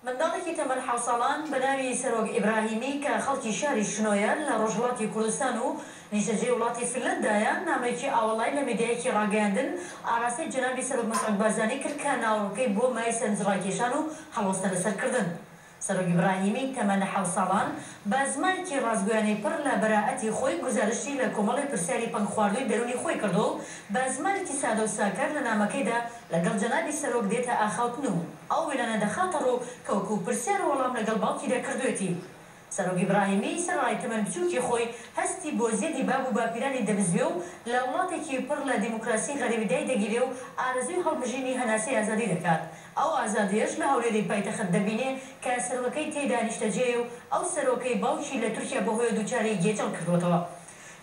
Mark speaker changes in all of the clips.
Speaker 1: منداڵێکی تەمەن حەوت ساڵان بە ناوی سەرۆک ئیبراهیمی کە خەڵکی شاری شنۆیە لە ڕۆژهەڵاتی کوردستان و نیشتەجێی وڵاتی فنلەندایە، نامەیەکی ئاوەڵای لە میدیایەکی ڕاگەیاندن ئاراستەی جەنابی سەرۆک مەسعود بارزانی کرد کە ناوەڕۆکەی بووە مایەی سەرنجڕاکێشان و هەڵوەستە لەسەر کردن. سەرۆک ئیبراهیمی تەمەن حەوت ساڵان بە زمانێکی ڕاستگۆیانەی پڕ لە بەرائەتی خۆی گوزارشتی لە کۆمەڵێ پرسیاری پەنگخواردووی دەروونی خۆی کردووە و بە زمانێکی سادە و ساکار لە نامەکەیدا لەگەڵ جەنابی سەرۆک دێتە ئاخاوتن و ئەو وێنانە دەخاتە ڕوو کە وەکوو پرسیار و وەڵام لەگەڵ باوکیدا کردووێتی. سەرۆک ئیبراهیمی سەرەڕای تەمەن بچووکی خۆی، هەستی بۆ زێدی باب و باپیرانی دەبزوێ و لە وڵاتێکی پڕ لە دیموکراسی غەریبی دایدەگیرێ و ئارەزووی هەڵمژینی هەناسەی ئازادی دەکات، ئەو ئازادییەش لە هەولێری پایتەخت دەبینێ کە سەرۆکەکەی تێیدا نیشتەجێیە و ئەو سەرۆکەی باوکی لە تورکیا بەهۆیەوە دووچاری گێچەڵ کردووەتەوە.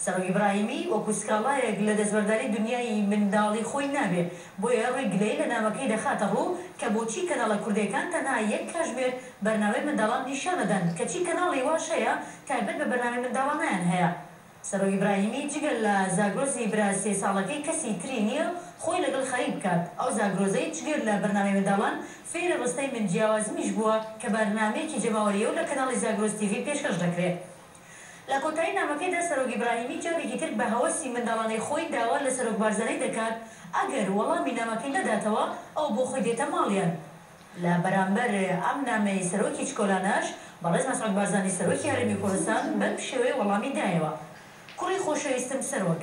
Speaker 1: سەرۆک ئیبراهیمی وەکو سکاڵایەک لە دەستبەرداری دونیای منداڵی خۆی نابێ، بۆیە ڕووی گلەیی لە نامەکەی دەخاتە ڕوو کە بۆچی کەناڵە کوردێکان تەنها یەک کاژمێر بەرنامەی منداڵان نیشان ئەدەن کەچی کەناڵی واش هەیە تایبەت بە بەرنامەی منداڵانیان هەیە. سەرۆک ئیبراهیمی جگە لە زاگرۆسی برا سێ ساڵەکەی کەسی تری نییە خۆی لەگەڵ خەریک بکات، ئەو زاگرۆزەی جگەر لە بەرنامەی منداڵان فێری ڕستەی من جیاوازمیش بووە کە بەرنامەیەکی جەماوەرییەو لە کەناڵی زاگرۆس تیڤی پێشکەش دەکرێ لە کۆتایی نامەکەیدا سەرۆک ئیبراهیمی جارێکی تر بە هەوەسی منداڵانەی خۆی داوا لە سەرۆک بارزانی دەکات ئەگەر وەڵامی نامەکەی نەداتەوە ئەوە بۆ خۆی دێتە ماڵیان. لە بەرامبەر ئەم نامەی سەرۆکی چکۆلانەش بەڕێز مەسعود بارزانی سەرۆکی هەرێمی کوردستان بەم شێوەیە وەڵامی دایەوە، کوڕی خۆشەویستم سەرۆک،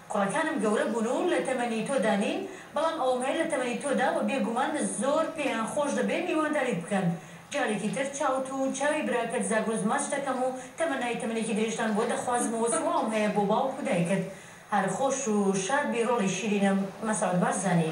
Speaker 1: کوڕەکانم گەورە بوون و لە تەمەنی تۆدا نین، بەڵام ئەوەم هەیە لە تەمەنی تۆدا و بێگومان زۆر پێیان خۆش دەبێ میوانداریت بکەن. جارێکی تر چاوت و چاوی براکەت زاگرۆس ماچ دەکەم و تەمەنای تەمەنێکی درێژتان بۆ دەخوازم و سڵاوم هەیە بۆ باوک و دایکت. هەر خۆش و شاد بی ڕۆڵی شیرینم. مەسعود بارزانی.